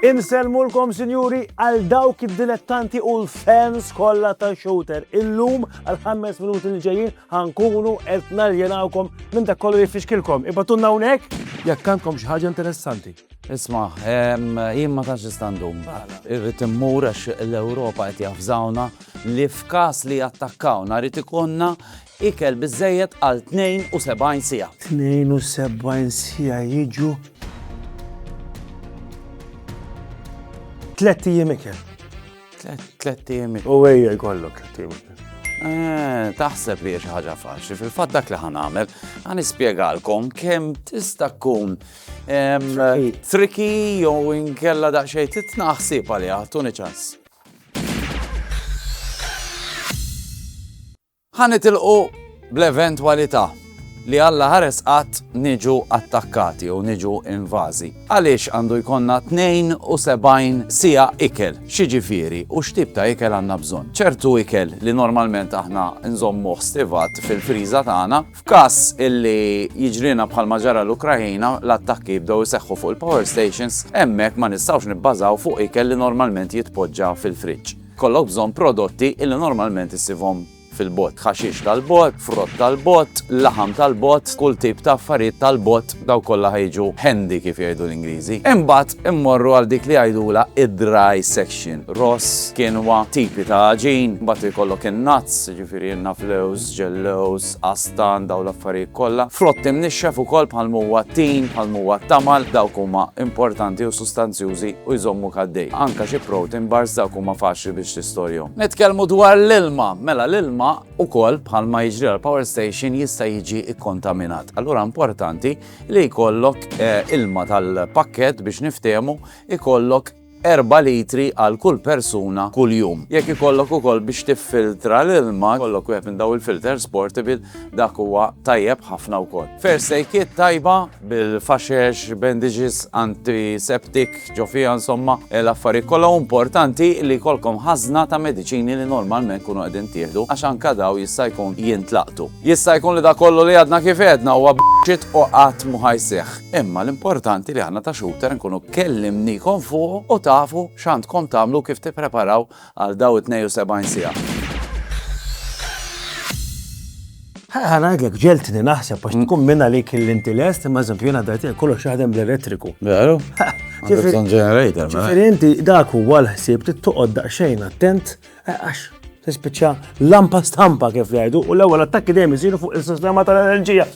Insellmulkom sinjuri għal dawk id-dilettanti u l-fans kollha ta' shooter. Illum għal ħames minuti li ġejjin ħankunu qed naljenawkom minn dak kollu jifixkilkom. Ibatunna hawnhekk jekk għandkom xi ħaġa interessanti. Isma, jien ma tantx nista' ndum. Irrid immur għax l-Ewropa qed jafżawna li f'każ li jattakkawna rrid ikollna ikel biżżejjed għal 72 siegħa. 72 siegħa jiġu tlett ijiem ikel. Tlett ijiem ikel. U ejja jkollok tlett ijiem ikel. Eh, taħseb li xi ħaġa faċli, fil-fatt dak li ħanamel, ħanispjegalkom kemm tista' tkun Tricky jew inkella daqsxejn titna ħsieb għaliha, tuni ċans. ħanitilqu bl-eventwalità li Alla ħares qatt niġu attakkati u niġu invażi. Għaliex għandu jkonna 72 sija ikel, xiġifieri u x'tip ta' ikel għandna bżonn. ċertu ikel li normalment aħna nżommu stivat fil-friża tagħna, F'każ illi jiġrilna bħalma ġara l-Ukraina, l-attakki jibdew iseħħu fuq il-power stations, hemmhekk ma nistgħux nibbażaw fuq ikel li normalment jitpoġġa fil-friġġ. Kollok bżonn prodotti illi normalment issibhom fil-bogħod, ħaxix tal-bogħod, frott tal-bogħod, laħam tal-bogħod, kull tip ta' affarijiet tal-bogħod, daw kollha ħejġu handy kif jgħidu l-Ingliżi. Imbagħad immorru għal dik li jgħidula id-dry section, ross, kinwa, tipi ta' ġin, mbagħad ikollok in-nuts, jiġifieri naflews, ġellewż, qastan, dawn l-affarijiet kollha, frott imnixxef ukoll bħalma huwa t-tin, bħalma huwa t-tamal, dawk huma importanti u sustanzjużi u jżommuk għaddej. Anke xi protein bars dawk huma faċli biex tistorjhom. Nitkellmu dwar l-ilma, mela l-ilma ukoll bħalma jiġri għall-power station jista' jiġi kkontaminat. Allura importanti li jkollok ilma tal-pakkett biex niftehmu, ikollok erba' litri għal kull persuna kuljum. Jekk ikollok ukoll biex tiffiltra l-ilma, jkollok wieħed minn dawn il-filters portable, dak huwa tajjeb ħafna wkoll. First aid kit tajba bil-faxex, bandages, antiseptic ġo fiha insomma, l-affarijiet kollha u importanti li jkollkom ħażna ta' mediċini li normalment tkunu qegħdin tieħdu għax anke dawn jista' jkun jintlaqtu. Jista' jkun li dak kollu li għadna kif għedna huwa bullshit u qatt mhu ħa jseħħ. Imma l-importanti li aħna ta' Shooter nkunu kellimniekom fuqu u tafu x'għandkom tagħmlu u kif tippreparaw għal dawn it-72 siegħa. Ħa ngħidlek ġeltni naħseb għax tkun minn għalik li inti lest, imma eżempju jiena dajt kollox jaħdem bl-elettriku. Veru? Ġifieri inti dak huwa l-ħsieb trid toqgħod daqsxejn attent Eh, għax, tispiċċa lampa stampa kif ngħidu u l-ewwel attakki dejjem isiru fuq is-sistema tal-enerġija.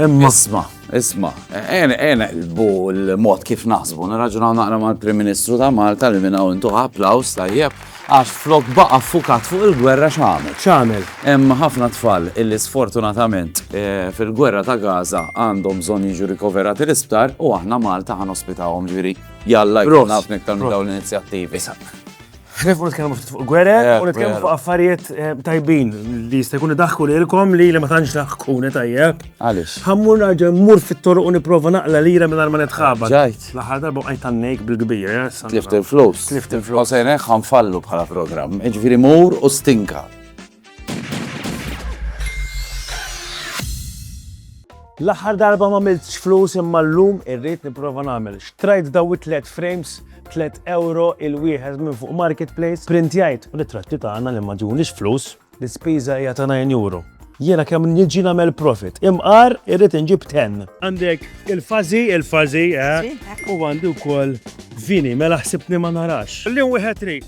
Imma isma, isma, ena ena bu l-mod kif naħsbu, nirraġunaw naqra mal-Prim Ministru ta' Malta li minna intu applaus tajjeb, għax flok baqa fukat fuq il-gwerra xamel. Xamel. Hemm ħafna tfal illi sfortunatament eh, fil-gwerra ta' Gaza għandhom bżonn jiġu rikoverati l-isptar u aħna Malta ħan ospitawhom ġiri. Jalla jkun naf niktar dawn l-inizjattivi. Nifqu nitkellmu ftit fuq gwerer u nitkellmu fuq affarijiet eh, tajbin li jista' jkun idaħku lilkom li li ma tantx daħkuni tajjeb. Għaliex? Ħammur naġa mmur fit-toruq u nipprova naqla lira minn ma nitħabat. Ġajt. L-aħħar darba qajt għannejk bil-kbir. eh, sa- Tlift il-flus. Tlift il-flus. U sejnek ħanfallu bħala programm. Ġifieri mur u stinka. L-aħħar darba ma miltx flus imma l-lum irrit niprofa nagħmel. Xtrajt daw it-tlet frames 3 euro il-wieħed minn fuq marketplace, printjajt ritratti tagħna li ma ġunix flus, l-ispiża hija ta' 9 euro. Jiena kemm niġi nagħmel profit. Imqar irrid inġib ten. Għandek il-fażi, il-fażi, eh? u għandi wkoll vini, mela ħsibni ma narax. Li wieħed trid.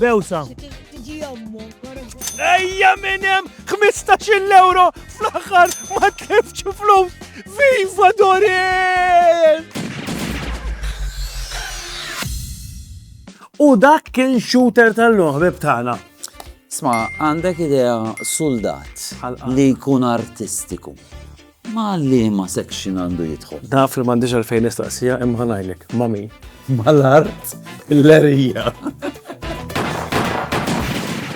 Bewsa. Ejja minn hemm 15 euro fl-aħħar ma tlifx flus. Viva Dorin! U dak kien shooter tal-loħbib tagħna. Sma, għandek idea soldat li jkun artistiku. Ma' liema section għandu jidħol? Naf li m'għandix għalfejn nistaqsija imma ħa ngħidlek, ma' min? Mal-art l-għerija.